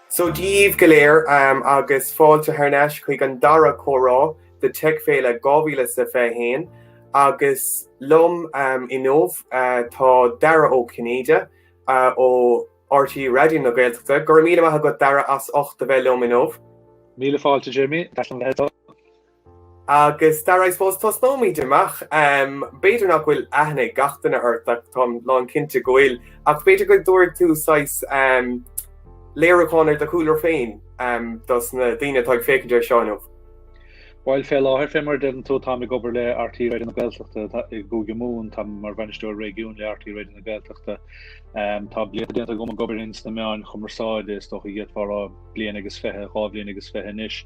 Seo díbh go léir agus fáilte thar n-ais chuig an dara comhrá de TechFéile 2021. Agus liom inniu tá Dara Ó Cinnéide ó RTÉ Raidió na Gaeltachta. Go raibh míle maith agat Dara as ucht a bheith liom inniu. Míle fáilte Jimmy, Agus Dara I suppose tosnóimid amach. B'fhéidir nach bhfuil aithne ag gach duine ort ach táim lán cinnte go bhfuil ach b'fhéidir go dtabharfá saghas léiriúcháin ar do chúlra féin dos na daoine atá ag féachaint ar seo inniu. Bhuel fé láthair fé mar a deireann tú táim ag obair le RTÉ Raidio na Gaeltachta i gCúige Mumhan, táim mar Bhainisteoir Réigiúin le RTÉ Raidio na Gaeltachta. Tá blianta déanta agam ag obair ins na meáin chumarsáide, is dócha go bhféadfá a rá bliain agus fiche, dhá bhliain agus fiche anois.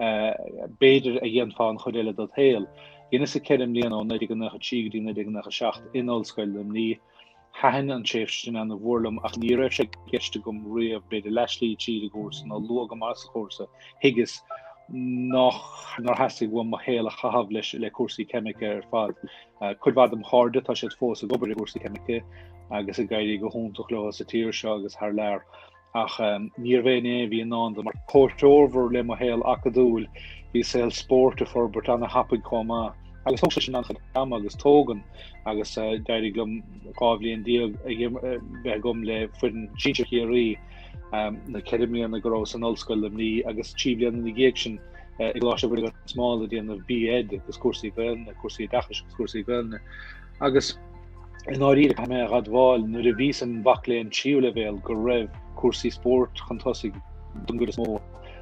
b'fhéidir, a dhéanfá an chuid eile ded shaol. Dheineas ceithre mbliana, ó 1993 go dtí 1997, in Ollscoil Luimní. Thaitin an tréimhse sin ana mhór liom ach ní raibh sé i gceist agam riamh, b'fhéidir, leathshlí tríd an gcúrsa nó luath go maith sa chúrsa, thuigeas nár theastaigh uaim mo shaol a chaitheamh le cúrsaí ceimice ar fad. Cuid mhaith dom chairde, tá siad fós ag obair i gcúrsaí ceimice agus ag éirí go hiontach leo sa tír seo agus thar lear. Ach níorbh in é a bhí i ndán dom. mar comhthreomhar le mo shaol acadúil, bhí saol spóirt ag forbairt ana-thapaidh chomh maith, agus thóg sé sin an-chuid ama agus tógann, agus d'éirigh liom dhá bhliain déag bheith agam le foireann sinsir Chiarraí, na ceithre mbliana go rabhas in Ollscoil Luimní, agus trí bliana ina dhiaidh sin i gColáiste Mhuire gan Smál ag déanamh B.Ed agus cúrsaí Gaelainne, cúrsaí oideachais agus cúrsaí Gaelainne. agus i ndáiríre caithfidh mé a admháil, nuair a bhíos im mhac léinn tríú leibhéal, go raibh cúrsaí spóirt chun tosaigh don gcuid is mó,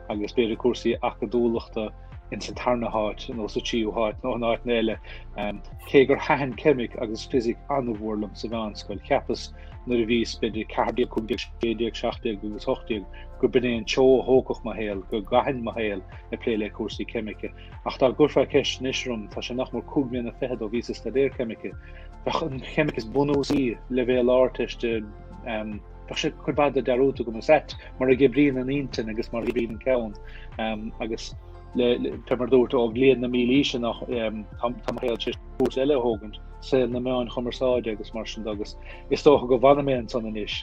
agus b'fhéidir cúrsaí acadúlachta ins an tarna háit nó sa tríú háit nó in áiteanna eile, cé gur thaitin ceimic agus fisic an-mhór liom sa mheánscoil. Cheapas, nuair a bhíos b'fhéidir 14, 15, 16, 17 agus 18, gur b'in é an treo a thógfadh mo shaol, go gcaithfinn mo shaol ag plé le cúrsaí ceimice. Ach dá gcuirfeá ceist anois orm, tá sé nach mór cúig mbliana fichead ó bhíos ag staidéar ceimice, bheadh an cheimic is bunúsaí, leibhéal Ardteiste, bheadh sé cuid mhaith de dearúdta agam is ait mar a oibríonn an intinn agus mar a oibríonn an ceann. Agus le, mar a dúrt, ó bhliain na mílaoise amach, tá mo shaol tar éis cúrsa eile a thógaint, saol na meáin chumarsáide agus mar sin de, agus is dócha go bhfanfaidh mé ansan anois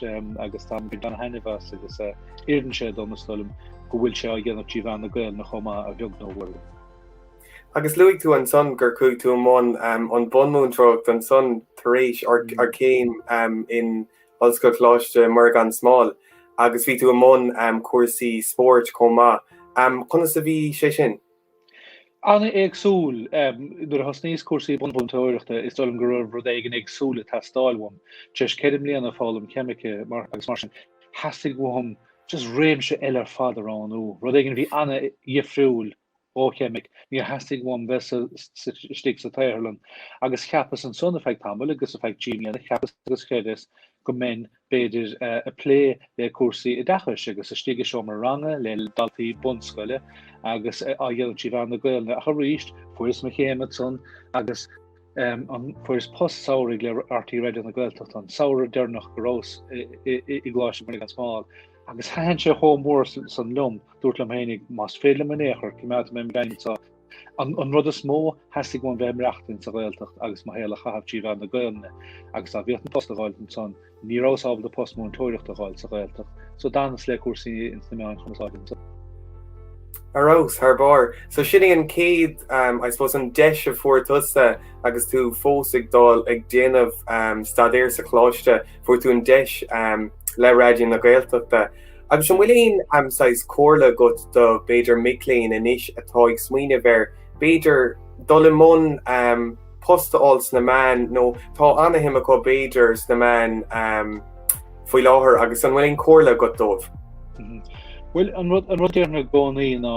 agus táim ag baint taitneamh as agus. Oireann sé dom, is dóigh liom, go bhfuil sé á dhéanamh trí mheán na Gaelainne chomh maith, a bheag nó a mhór. Agus luaigh tú ansan gur chuaigh tú i mbun an bhunmúinteoireacht ansan tar éis do chéim in Ollscoil Coláiste Mhuire gan Smál agus bhí tú i mbun cúrsaí spóirt chomh maith. Conas a bhí sé sin? an-éagsúil. Nuair a thosnaíos cúrsaí bunmhúinteoireachta is dóigh liom go raibh rud éigin éagsúil ag teastáil uaim. Tar éis ceithre bliana ag foghlaim ceimice agus mar sin, theastaigh uaim just réimse eile ar fad a roghnú, rud éigin a bhí an-dhifriúil ó cheimic. Níor theastaigh uaim bheith istigh sa tsaotharlann agus cheapas ansan ar feadh tamaill agus ar feadh trí mbliana cheapas agus chreideas go mbeinn b'fhéidir, ag plé le cúrsaí oideachais agus istigh i seomra ranga le daltaí bunscoile agus á dhéanamh trí mheán na Gaeilge ach arís fuaireas mo chéim ansan agus fuaireas post samhraidh le RTÉ Raidió na Gaeltachta an samhradh deireanach go rabhas i gColáiste Mhuire gan Smál agus thaitin sé chomh mór san liom, dúirt liom féin, más féidir liom in aon chor, coimeádfaidh mé mo leanúint seo. An rud is mó, theastaigh uaim bheith ag maireachtaint sa Ghaeltacht agus mo shaol a chaitheamh trí mheán na Gaolainne, agus dá bhíodh an post a dh'fháil dom san, ní rabhas ábalta post múinteoireachta a dh'fháil sa Ghaeltacht, so d'fhanas le cúrsaí ins na meáin chumarsáide ansan. Ar fheabhas, thar barr. So sin é an chéad, I suppose, an deis a fuair tusa agus tú fós ag dul ag déanamh staidéir sa choláiste, fuair tú an deis le Raidió na Gaeltachta. Agus an bhfuil aon um, saghas comhairle agat do, b'fhéidir, mic léinn anois atá ag smaoineamh ar, b'fhéidir, dul i mbun um, post a fháil sna meáin nó tá an-shuim acu, b'fhéidir, sna meáin um, faoi láthair agus an bhfuil aon comhairle agat dóibh? Bhuel an rud déarfainn i gcónaí ná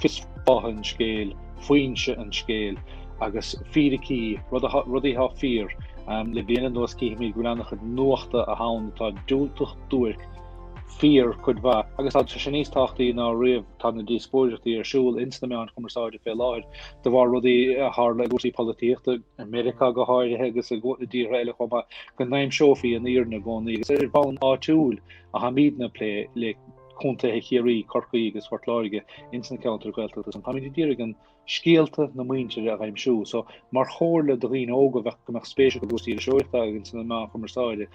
fios fátha an scéil, foinse an scéil agus fíricí, rudaí thá fíor le bliain anuas, cífimid go bhfuil an-chuid nuachta ann atá diúltach duairc fíor cuid mhaith agus tá sé níos tábhachtaí ná riamh, tá na díospóireachtaí ar siúl ins na meáin chumarsáide fé láthair de bharr rudaí a tharla i gcúrsaí polaitíochta, i Meiriceá go háirithe agus i dtíortha eile chomh maith, go n-aimseofaí an fhírinne i gcónaí agus ar bhonn áitiúil a tháimidne ag plé le. contaetha Chiarraí, Corcaí agus Phort Láirge ins na ceantair Ghaeltachta san. Táimid ag iarraidh scéalta na muintire a aimsiú. So, mar chomhairle do dhaoine óga a bheadh go mbeadh spéis acu i gcúrsaí iriseoireachta agus sna meáin chumarsáide.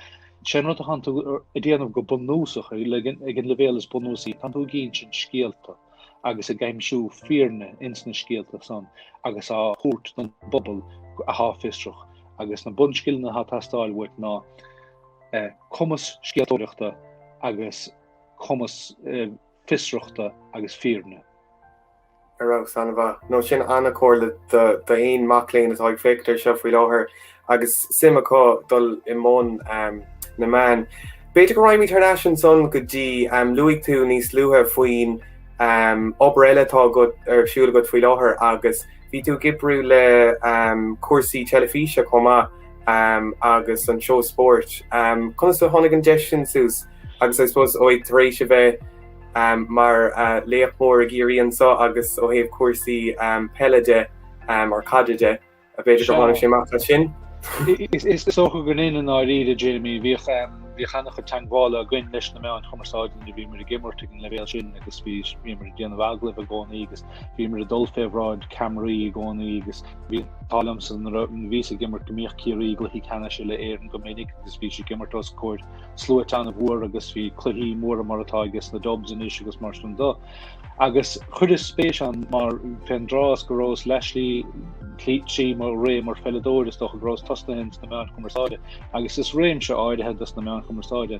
Sé an rud atánn tú a dhéanamh go bunúsach, ag an leibhéal is bunúsaí, tánn tú ag insint scéalta agus ag aimsiú fírinne ins na scéalta san agus á thabhairt don bpobal athá fiosrach. Agus na bunscileanna atá ag teastáil uait ná. cumas scéaltóireachta agus cumas fiosrachta agus fírinne. Ar fheabhas, an-mhaith. Nó sin an-chomhairle d'aon mac léinn atá ag féachaint ar seo faoi láthair agus suim acu dul i mbun na meán. B'fhéidir go raghaimid thar n-ais ansan go dtí luaigh tú níos luaithe faoin obair eile atá agat ar siúl agat faoi láthair agus bhí tú ag oibriú le cúrsaí teilifíse chomh maith. agus an seó spóirt. Conas a tháinig an deis sin suas agus I suppose ó ag tar éis a bheith mar laoch mór i gCiarraí anso agus ó thaobh cúrsaí peile de or caide de b'fhéidir gur tháinig sé amach as sin? Is dócha gur b'in é i ndáiríre Jamie bhíodh bhíodh ana-chuid teangmhála againn leis na meáin chumarsáide nuair a bhíomar ag imirt ag an leibhéal sin agus bhíomar ag déanamh agallaimh i gcónaí agus Bhíomar ag dul fé bhráid ceamaraí i gcónaí agus bhí an t-ádh liomsa nuair a bhíos ag imirt go mbíodh Ciarraí i gcluichí ceannais uile-Éireann go minic agus bhíos ag imirt os comhair sluaite ana-mhór agus bhí cluichí móra mar atá aige sna Dubs anois agus mar sin dó agus chuireas spéis ann mar fé an dtráth go rabhas leathshlí trí mo ré mar pheileadóir is dócha go rabhas tosnaithe ins na meáin chumarsáide agus is réimse áirithe dos na meáin chumarsáide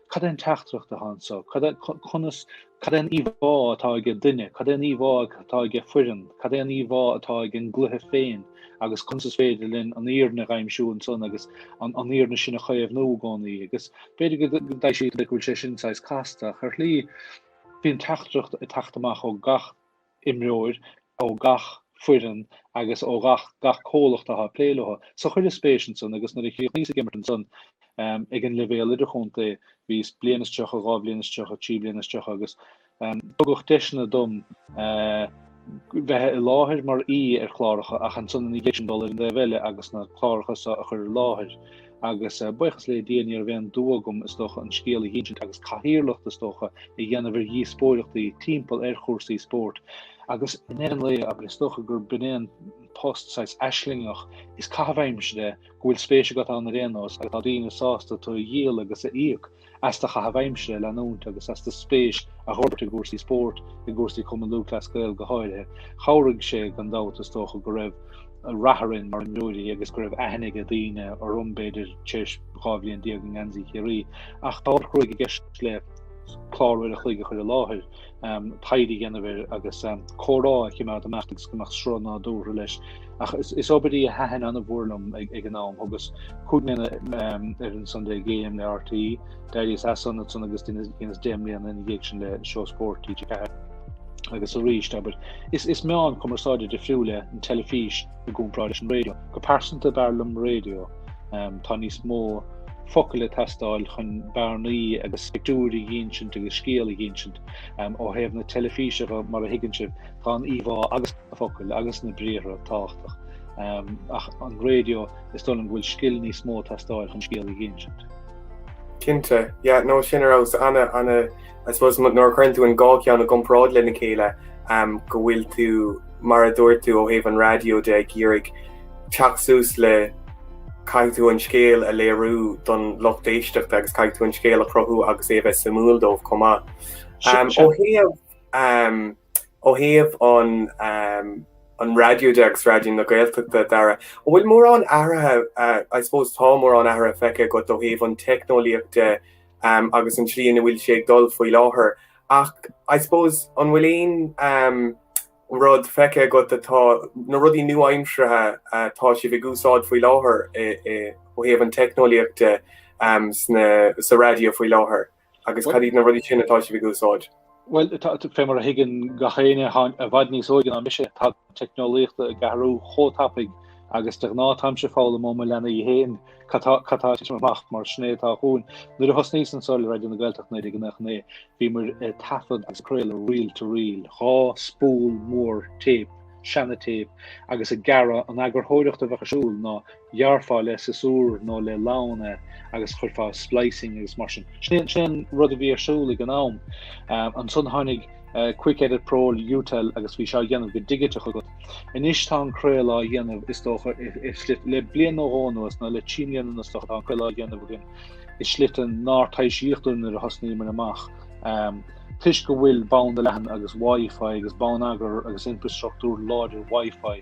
Cad é an teachtaireacht atá anseo? Cad é conas cad é an íomhá atá ag an duine? Cad é an íomhá atá ag an foireann? Cad é an íomhá atá ag an gcluiche féin agus conas is féidir linn an fhírinne a aimsiú ansan agus an an fhírinne sin a chaomhnú i gcónaí agus b'fhéidir go go dtaidh siad le bhfuil sé sin sais casta a mar ní bhíonn teachtaireacht ag teacht amach ó gach imreoir ó gach foireann agus ó gach gach comhlacht atá ag plé leo. So chuireas spéis ann san agus nuair a chríochnaíos ag imirt ansan ag an leibhéal idirchontae bhíos bliain is tríocha, dhá bhliain is tríocha, trí bliana is tríocha agus tugadh deiseanna dom bheith i láthair mar aoi ar chláracha ach ansan ina dhiaidh sin dul ar an dtaobh eile agus na cláracha so a chur i láthair. agus buíochas le Dia ní raibh aon dua agam, is dócha, an scéal a dhínsint agus cathaoirleacht, is dócha, a dhéanamh ar dhíospóireachtaí timpeall ar chúrsaí spóirt agus i ndeireadh an lae, ach is dócha gur b'in é an post saghas aislingeach is caitheamh aimsire go bhfuil spéis agat ann ar aon nós agus tá daoine sásta tú a dhíol agus a íoc as do chaitheamh aimsire a leanúint agus as do spéis a fhorbairt i gcúrsaí spóirt, i gcúrsaí Chumann Lúthchleas Gael go háirithe. Chabhraigh sé, gan dabht, is dócha, go raibh an rath orainn mar imreoirí agus go raibh aithne aige daoine orm, b'fhéidir, tar éis dhá bhliain déag i ngeansaí Chiarraí. Ach tá ceird i gceist le clár uair an chloig a chur i láthair. taighde a dhéanamh air agus comhrá a chimeád ag imeacht agus go mbeadh sruth nádúrtha leis. Ach is obair í a thaitin ana-mhór liom ag an am thugas cúig mbliana ar an Sunday Game le RTÉ, d'éiríos as san ansan agus dheineas deich mbliana ina dhiaidh sin le seó spóirt TG4 agus arís abair is meán cumarsáide difriúil é an teilifís. i gcomparáid leis an raidió. Go pearsanta, b'fhearr liom raidió. Tá níos mó focal ag teastáil chun bearnaí agus pictiúir a dhínsint agus scéal a dhínsint. Ó thaobh na teilifíse de, mar a thuigeann sibh, tá an íomhá agus na focail agus na briathra tábhachtach. Ach an raidió, is dóigh liom go bhfuil scil níos mó ag teastáil chun scéal a dhínsint. Cinnte, yeah, nó sin a raibh Anna, Anna. I suppose nuair a chuireann tú an dhá cheann i gcomparáid lena chéile go bhfuil tú mar a dúirt tú ó thaobh an raidió de ag iarraidh teacht suas le caithfidh tú an scéal a léiriú don lucht éisteachta agus caithfidh tú an scéal a chruthú agus é a bheith suimiúil dóibh chomh maith. Um, ó thaobh um, ó thaobh an um, an raidió de agus Raidió na Gaeltachta, Dara, an bhfuil mórán athruithe uh, I suppose tá mórán athruithe feicthe agat ó thaobh an teicneolaíocht de um, agus an tslí ina bhfuil sé ag dul faoi láthair. Ach I suppose an bhfuil aon um, rud feicthe agat atá na rudaí nua-aimseartha uh, atá sibh ag úsáid faoi láthair i, i, ó thaobh an teicneolaíochta um, sna, sa raidió faoi láthair agus cad iad na rudaí sin atá sibh ag úsáid? Bhuel, fé mar a thuigeann gach éinne atá i bhfad níos óige ná mise, tá an teicneolaíocht ag athrú chomh tapaidh agus de ghnáth táimse ag foghlaim ó mo leanaí féin cad tá, cad tá ag titim amach mar sin é atá chugainn. Nuair a thosnaíos anso le Raidió na Gaeltachta 1999 bhíomair ag taifead agus ag craoladh reel to reel, dhá spól mór téip, seana-téip, agus ag gearradh an eagarthóireacht a bheadh ar siúl ná ghearrfá le siosúr nó le lann é agus chuirfeá splicing agus mar sin. Sin é an rud a bhí ar siúl ag an am. Ansan tháinig Quick Edit Pro, Jutel agus bhí sé á dhéanamh go digiteach agat. Anois tá an craoladh á dhéanamh, is dócha, i slite. Le bliain nó dhó anuas, nó le trí mbliana anuas, dócha, tá an craoladh á dhéanamh againn i slite nár taibhsíodh dúinn nuair a thosnaíomair amach, toisc go bhfuil banda leathan agus Wi-Fi agus bonneagar agus infreastruchtúr láidir Wi-Fi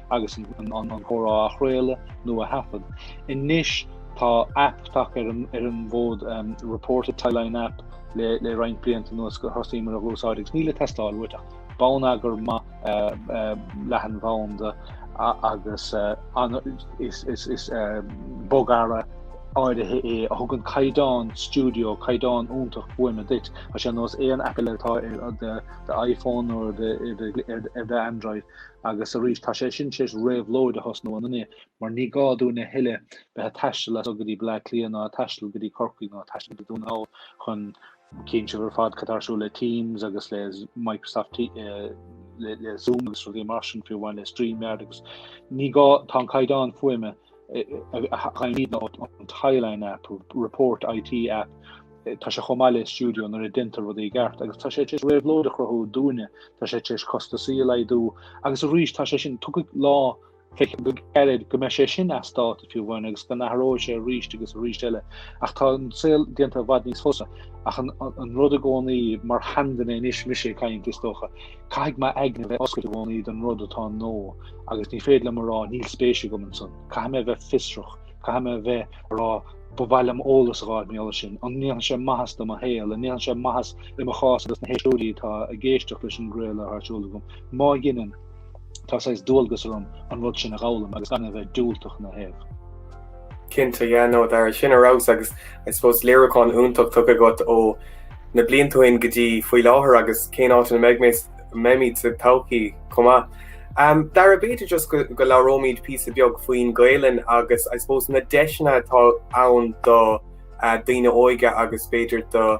agus an comhrá a chraoladh nó a thaifead. Anois tá aip tagtha ar an bhfód, Report It Tieline app le roinnt blianta anuas gur thosaíomar ag úsáid agus níl ag teastáil uait ach bonneagar maith leathanbhanda agus is bogearra áirithe é a thugann caighdeán stiúideo, caighdeán iontach fuaime duit, tá sé ar nós aon aip eile atá ar d'iPhone nó ar d'Android. Agus arís, tá sé sin tar éis réabhlóid a thosnú ann inniu, mar ní gá dúinn a thuilleadh bheith ag taisteal as so go dtí Bleá Cliath ná ag taisteal go dtí Corcaigh ná ag taisteal go dtí Dún na nGall chun Cíonn sibh ar fad cad tá ar siúl le Teams agus le Microsoft le Zoom agus rudaí mar sin fiú amháin le StreamYard agus ní gá tá an caighdeán fuaime fhaighimid ón Tieline App, Report IT App, tá sé chomh maith le stiúideo nuair a deintear rudaí i gceart, agus tá sé tar éis réabhlóid a chruthú dúinne, tá sé tar éis costasaí a laghdú, agus arís tá sé sin tiocfaidh lá féach go gairid go mbeidh sé sin as dáta fiú amháin agus go n-athróidh sé arís agus arís eile, ach tá an saol déanta i bhfad níos fusa. Ach an rud i gcónaí, mar sheanduine anois mise ag caint is dócha, Caithfidh m'aigne bheith oscailte i gcónaí don rud atá nua, agus ní féidir liom a rá níl spéis agam ansan. Caithfidh mé bheith fiosrach, caithfidh mé bheith ag rá ba mhaith liom eolas a fháil faoin eolas sin. An ndéanfaidh sé maitheas do mo shaol? An ndéanfaidh sé maitheas i mo chás agus na héisteoirí atá ag éisteacht leis an gcraoladh atá ar siúl agam? Má dheineann, tá saghas dualgas orm an rud sin a fhoghlaim agus gan é a bheith diúltach ina thaobh. Cinnte, yeah, no Dara, sin thar barr agus I suppose léiriúchán iontach tugtha agat ó na blianta ó shin go dtí faoi láthair agus cén áit ina mbeidh mé mbeimid sa todhchaí chomh maith. Um, Dara b'fhéidir just go, go labhróimid píosa beag faoin Gaelainn agus I suppose na deiseanna atá ann do uh, daoine óga agus b'fhéidir do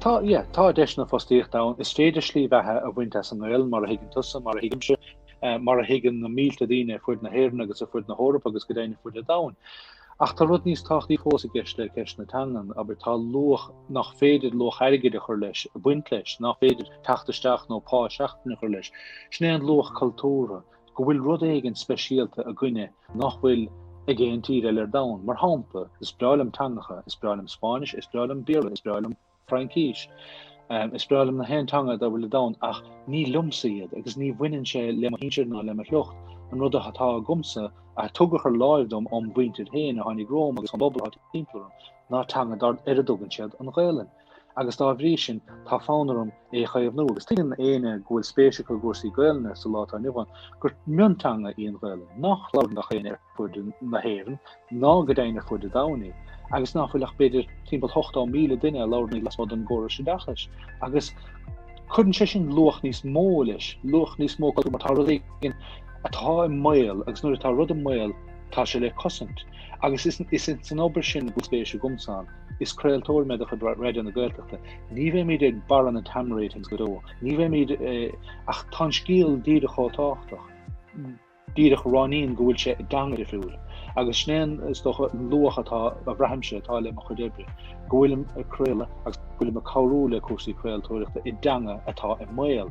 Tá, yeah, tá deiseanna fostaíochta ann. Is féidir slí bheatha a bhaint as an nGaelainn, mar a thuigeann tusa, mar a thuigimse, mar a thuigeann na mílte daoine ar fuid na hÉireann agus ar fuid na hEorpa agus go deimhin ar fuid an domhain. Ach tá rud níos tábhachtaí fós i gceist le ceist na teangan, abair, tá luach nach féidir luach airgid a chur leis, a bhaint leis, ná féidir teacht isteach nó pá seachtaine a chur leis. Sin é an luach cultúrtha. go bhfuil rud éigin speisialta againne nach bhfuil ag aon tír eile ar domhan. Mar shampla, is breá liom teangacha, is breá liom Spáinnis, is breá liom Béarla, is breá liom Fraincis, is breá liom na haon teanga dá bhfuil ar domhan, ach ní liomsa iad agus ní bhaineann sé le mo shinsir ná le mo shliocht. An rud atá agamsa, a tugadh thar láimh dom óm mhuintir féin a tháinig romham agus ón bpobal atá timpeall orm, ná teanga dar a dtugann siad an Ghaelainn. agus dá bhrí sin tá fonn orm é a chaomhnú agus tuigeann éinne go bhfuil spéis acu i gcúrsaí Gaolainne sa lá atá inniu ann gur mionteanga í an Ghaolainn, ná labhrann gach éinne ar fuaid na hÉireann ná go deimhin ar fuaid an domhain í agus ná fuil ach b'fhéidir timpeall 80,000 duine a labhrann í lasmuigh den gcóras oideachais agus cuireann sé sin luach níos mó leis, luach níos mó cultúir mar tá rud éigin atá i mbaol agus nuair atá rud i mbaol tá sé le cosaint agus is ins an obair sin a bhfuil spéis agamsa. Is craoltóir mé de chuid Raidió na Gaeltachta. Ní bheimid ag barra na TAM ratings go deo. Ní bheimid, ach tá an scéal díreach chomh tábhachtach. Díreach ráiníonn go bhfuil sé i dteanga difriúil. Agus sin é, is dócha, an luach atá, a bhraithimse, atá le mo chuid oibre, go bhfuilim ag craoladh agus go bhfuilim ag cabhrú le cúrsaí craoltóireachta i dteanga atá i mbaol.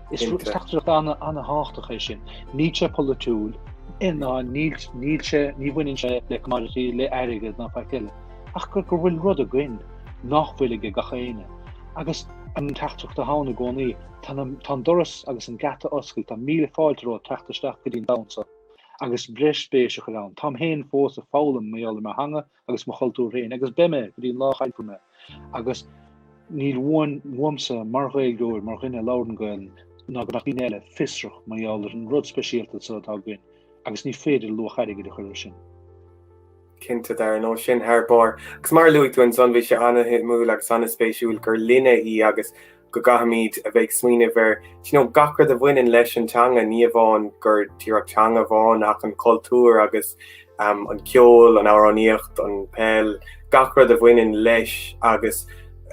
Is teachtaireacht ana-thábhachtach é sin. Níl sé polaitiúil, ná níl sé, ní bhaineann sé le commodity, le airgead ná faic eile, ach go bhfuil rud againn nach bhfuil aige gach éinne. Agus an teachtaireacht atá ann i gcónaí, tá an doras agus an geata oscailte, tá míle fáilte romhat teacht isteach go dtí an domhan seo, agus breis spéise a chur ann. Táim féin fós ag foghlaim mar gheall ar mo theanga agus mo chultúr féin, agus beidh mé go dtí an lá a chaillfear mé, agus níl uaim uaimse mar Ghaeilgeoir, mar dhuine a labhrann Gaelainn, ná go mbeadh daoine eile fiosrach mar gheall ar an rud speisialta so atá againn, agus ní féidir luach airgid a chur ar sin. Cinnte, Dara, no sin, thar barr. Agus mar a luaigh tú ansan, bhí sé an-shuimiúil agus an-spéisiúil gur linne í agus go gcaithfimid a bheith ag smaoineamh ar gach rud a bhaineann leis an teanga, ní amháin gur díreach teanga amháin ach an cultúr agus an ceol, an amhránaíocht, an peil, gach rud a bhaineann leis agus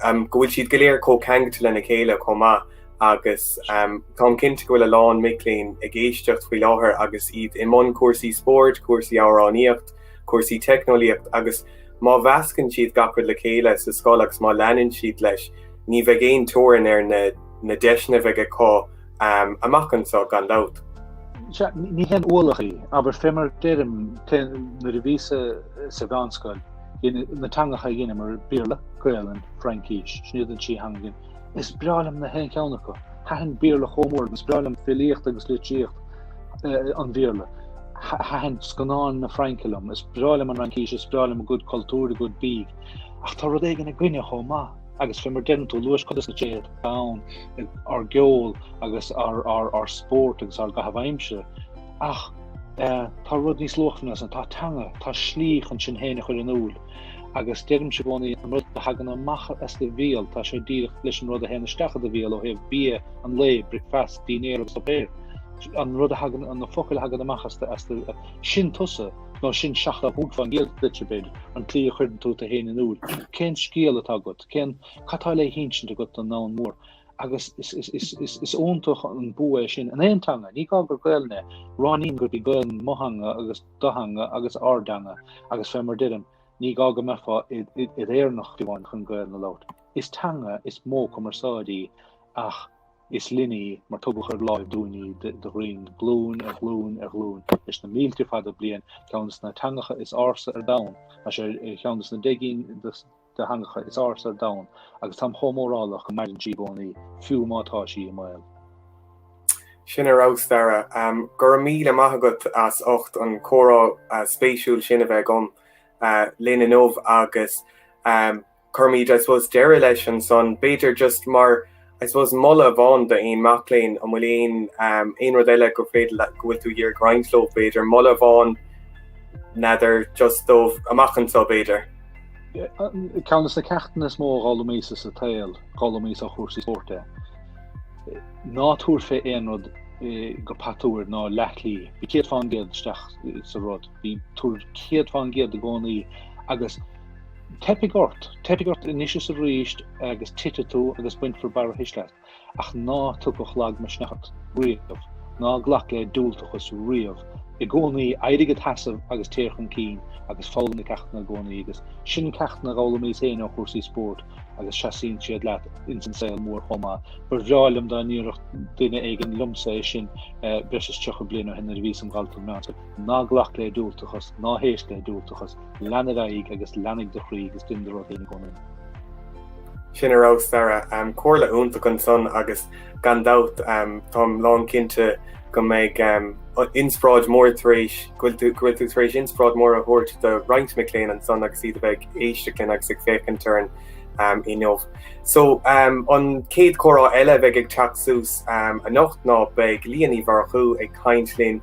go bhfuil siad go léir chomh ceangailte lena chéile chomh maith agus táim cinnte go bhfuil a lán mic léinn ag éisteacht faoi láthair agus iad i mbun cúrsaí spóirt, cúrsaí amhránaíocht, cúrsaí teicneolaíocht agus má mheascann siad gach rud le chéile sa scoil agus má leanann siad leis, ní bheidh aon teorainn ar na deiseanna a bheidh acu amach anseo, gan dabht. Sea, ní haon ualach í, abair, fé mar a deirim, nuair a bhíos-sa sa mheánscoil, na teangacha a dheineamar, Béarla, Gaolainn, Fraincis, sin iad an trí theanga a Is breá liom gach aon cheann acu. Thaitin Béarla go mór liom, is breá liom filíocht agus litríocht eh, an Bhéarla. Thaitin scannáin na Fraince liom. Is breá liom an Fhraincis, is breá liom a gcuid cultúr, a gcuid bídh. Ach tá rud éigin againne chomh maith. agus fé mar a dhein tú a lua, is cuid de sin é ár gceol agus ár spórt agus ár gcaitheamh aimsire ach eh, tá rud níos luachmhaire ná san, tá teanga tá slí chun sinn féin a chur in iúl agus deirimse i gcónaí an rud a thagann amach as do bhéal, tá sé díreach leis an rud a théann isteach i do bhéal ó thaobh bia, an lae, bricfeast, dinnéar agus suipéar. An rud a thagann, an na focail a thagann amach as do, as do, sin tusa, nó sin seachtó a cúig fén gcéad díot, b'fhéidir, an tslí a chuireann tú tú féin in iúl, cén scéal atá agat, cén, cad atá le hinsint agat don ndomhan mór. Agus is, is, is, is, is iontach an bua é sin in aon teanga, ní gá gur Gaelainn é, ráiníonn gurb í Gaelainn mo theanga agus, do theanga agus ár dteanga agus fé mar a deirim, ní gá go mbeifeá i d'Éireannach amháin chun Gaelainn a labhairt. Is teanga is modh cumarsáide í ach is linn í mar tugadh ar láimh dúinn í de ghrian glúin ar ghlúin ar ghlúin leis na mílte fada bliain, ceann des na teangacha is ársa ar domhan, tá sé ar cheann de na deich gcinn de theangacha is ársa ar domhan agus táim chomh mórálach go maireann sí i gcónaí, fiú má tá sí i mbaol. Sin ar fheabhas, Dara. Go raibh míle maith agat as ucht an comhrá spéisiúil sin a bheith agat linn inniu agus cuirimid, I suppose, deireadh leis ansan. B'fhéidir just mar. I suppose moladh amháin d'aon mac léinn an bhfuil aon aon rud eile gur féidir le go bhfuil tú ag iarraidh a roinnt leo b'fhéidir moladh amháin n'fheadar just dóibh amach anseo b'fhéidir. Ceann des na ceachtanna is mó a d'fhoghlaimíos-sa sa tsaol, d'fhoghlaimíos ó chúrsaí spóirt é. Ná tabhair fé aon rud go patuar ná leathchroí, bí céad fán gcéad isteach sa rud bí, tabhair céad fán gcéad i gcónaí agus Teipfidh ort, teipfidh ort anois is arís agus titfidh tú agus bainfear barrathuisle asat, ach ná tagadh lagmhisneach ort riamh, ná glac le diúltachas riamh. I gcónaí, éirigh id sheasamh agus téir chun cinn agus foghlaim na ceachtanna i gcónaí agus sin ceachtanna a d'fhoghlaimíos féin ó chúrsaí spóirt agus seasaíonn siad leat ins an saol mór chomh maith. Ba bhreá liom dá ndéarfadh duine éigin liomsa é sin breis is tríocha bliain ó shin nuair a bhíos im dhalta meánscoile. Ná glac le diúltachas, ná héist le diúltachas. Lean ar aghaidh agus leanaigh do chroí agus dein do rud féin i gcónaí. Sin ar fheabhas Sara. Comhairle iontach ansan agus gan dabht táim lán cinnte go mbeidh inspioráid mór tar éis, go bhfuil tú, go bhfuil tú tar éis inspioráid mór a thabhairt do roinnt mic léinn ansan agus iad a bheith ag éisteacht linn agus ag féachaint orainn inniu. So an chéad comhrá eile a bheidh ag teacht suas anocht ná beidh Liadh Ní Mhurchú ag caint linn